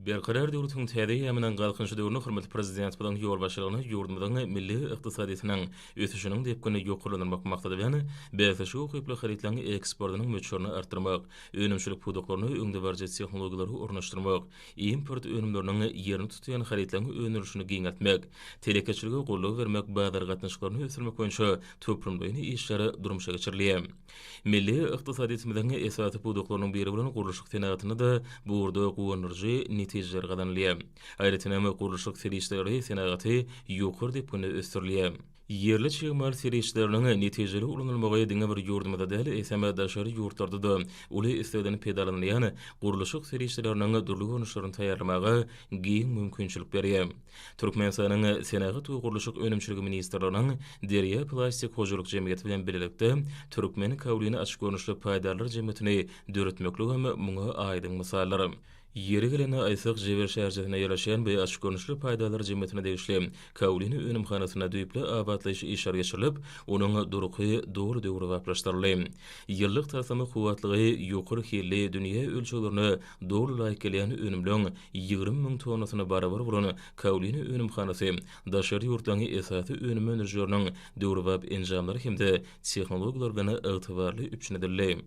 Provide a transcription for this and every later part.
Berkarar döwletiň täze eýýamynyň Galkynyşy döwründe hormatly Prezidentimiziň ýolbaşçylygynda ýurdumyzyň milli ykdysadyýetiniň ösüşiniň depginini ýokarlandyrmak maksady bilen, bäsleşige ukyply harytlaryň eksportynyň möçberini artdyrmak, önümçilik pudaklaryna öňdebaryjy tehnologiýalary ornaşdyrmak, import önümleriniň ýerini tutýan harytlaryň öndürilişini giňeltmek, telekeçilige goldaw bermek, bazar gatnaşyklaryny ösdürmek boýunça toplumlaýyn işler durmuşa geçirilýär. Milli ykdysadyýetimiziň esasy pudaklarynyň biri bolan gurluşyk senagatynda-da bu ugurda guwandyryjy netijeler gazanylýar. Aýratynam, gurluşyk serişdeleri senagaty ýokary depginde ösdürilýär. Ýerli çig mal serişdeleriniň netijeli ulanylmagy diňe bir ýurdumyzda däl, eýsem, daşary ýurtlarda-da uly islegden pedalanylýan gurluşyk serişdeleriniň dürli görnüşlerini taýýarlamaga giň mümkinçilik berýär. Türkmenistanyň Senagat we gurluşyk önümçiligi ministrliginiň Derýa plastik hojalyk jemgyýeti bilen bilelikde Türkmen kaolini açyk görnüşli paýdarlar jemgyýetini döretmekligem muňa aýdyň mysaldyr. Ýeri gelende aýtsak, Jebel şäherçesinde ýerleşýän bu açyk görnüşli paýdarlar jemgyýetine degişli kaolini önümhanasynda düýpli abatlaýyş işleri geçirilip, onuň durky doly döwrebaplaşdyryldy. Ýyllyk taslama kuwwatlygy ýokary hilli dünýä ölçeglerine doly laýyk gelýän önümleň ýigrimi müň tonnasyna barabar bolan Kaolin önümhanasy daşary ýurtlaryň esasy önüm öndürijileriniň döwrebap enjamlary hem-de tehnologiýalar bilen ygtybarly üpjün edildi.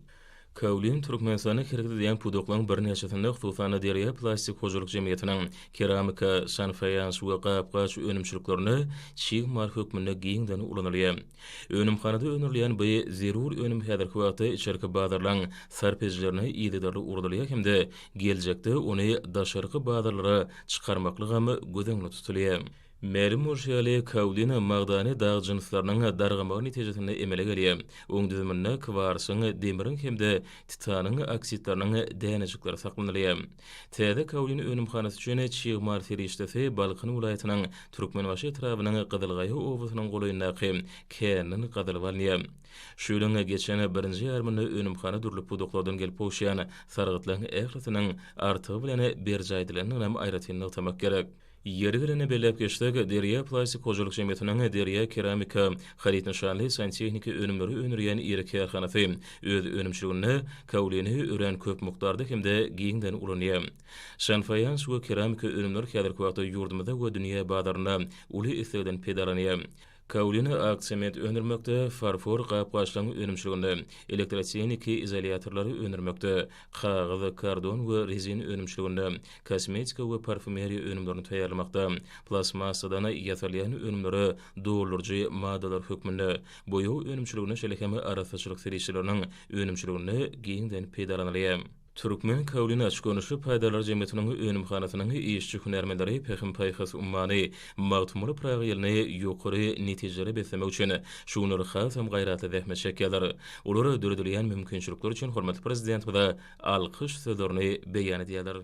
Kaolin Türkmenistanda hereket edýän pudaklaryň birnäçesinde, hususan-da, Derýa plastik hojalyk jemgyýetiniň keramika, şanfaýans we gap-gaç önümçiliklerinde çig mal hökmünde giňden ulanylýar. Önümhanada öndürilýän bu zerur önüm häzirki wagtda içerki bazarlaryň sarp edijilerine yzygiderli ugradylýar hem-de geljekde ony daşarky bazarlara çykarmaklygam göz öňünde tutulýar. Mälim bolşy ýaly, kaolin magdany dag jynslarynyň dargamagy netijesinde emele gelýär, oň düzüminde kwarsyň, demiriň hem-de titanyň oksidleriniň dänejikleri saklanylýar. Täze kaolin önümhanasy üçin çig mal serişdesi Balkan welaýatynyň Türkmenbaşy etrabynyň Gyzylgaýa obasynyň golaýyndaky käninden gazylyp alynýar. Şu ýylyň geçen birinji ýarymynda önümhana dürli pudaklardan gelip gowuşýan sargytlaryň ählisiniň artygy bilen berjaý edilendiginem aýratyn nygtamak gerek. Ýeri gelende belläp geçsek, Derýa plastik hojalyk jemgyýetiniň Derýa keramika haryt nyşanly santehniki önümleri öndürýän iri kärhanasy öz önümçiliginde kaolini örän köp mukdarda hem-de giňden ulanýar. Şan faýans we keramika önümler häzirki wagtda ýurdumyzda we dünýä bazarynda uly islegden pedalanýar. Kaolina ak sement öndürmekde, farfor gap-gaçlaryň önümçiliginde, elektrotehniki izolýatorlary öndürmekde, kagyz, kardon we rezin önümçiliginde, kosmetika we parfumeriýa önümlerini taýýarlamakda, plastmassadan ýasalýan önümlere dolduryjy maddalar hökmünde, boýag önümçiliginde şeýle hem arassaçylyk serişdeleriniň önümçiliginde giňden peýdalanylýar. Türkmen Kaolin açyk-görnüşli paýdarlar jemgyýetiniň önümhanasynyň işçi-hünärmenleri Pähim-paýhas ummany Magtymguly Pyragy ýylyny ýokary netijelere beslemek üçin şu günler hasam gaýratly zähmet çekýärler. Olar döredilýän mümkinçilikler üçin hormatly Prezidentimize alkyş sözlerini beýan edýärler.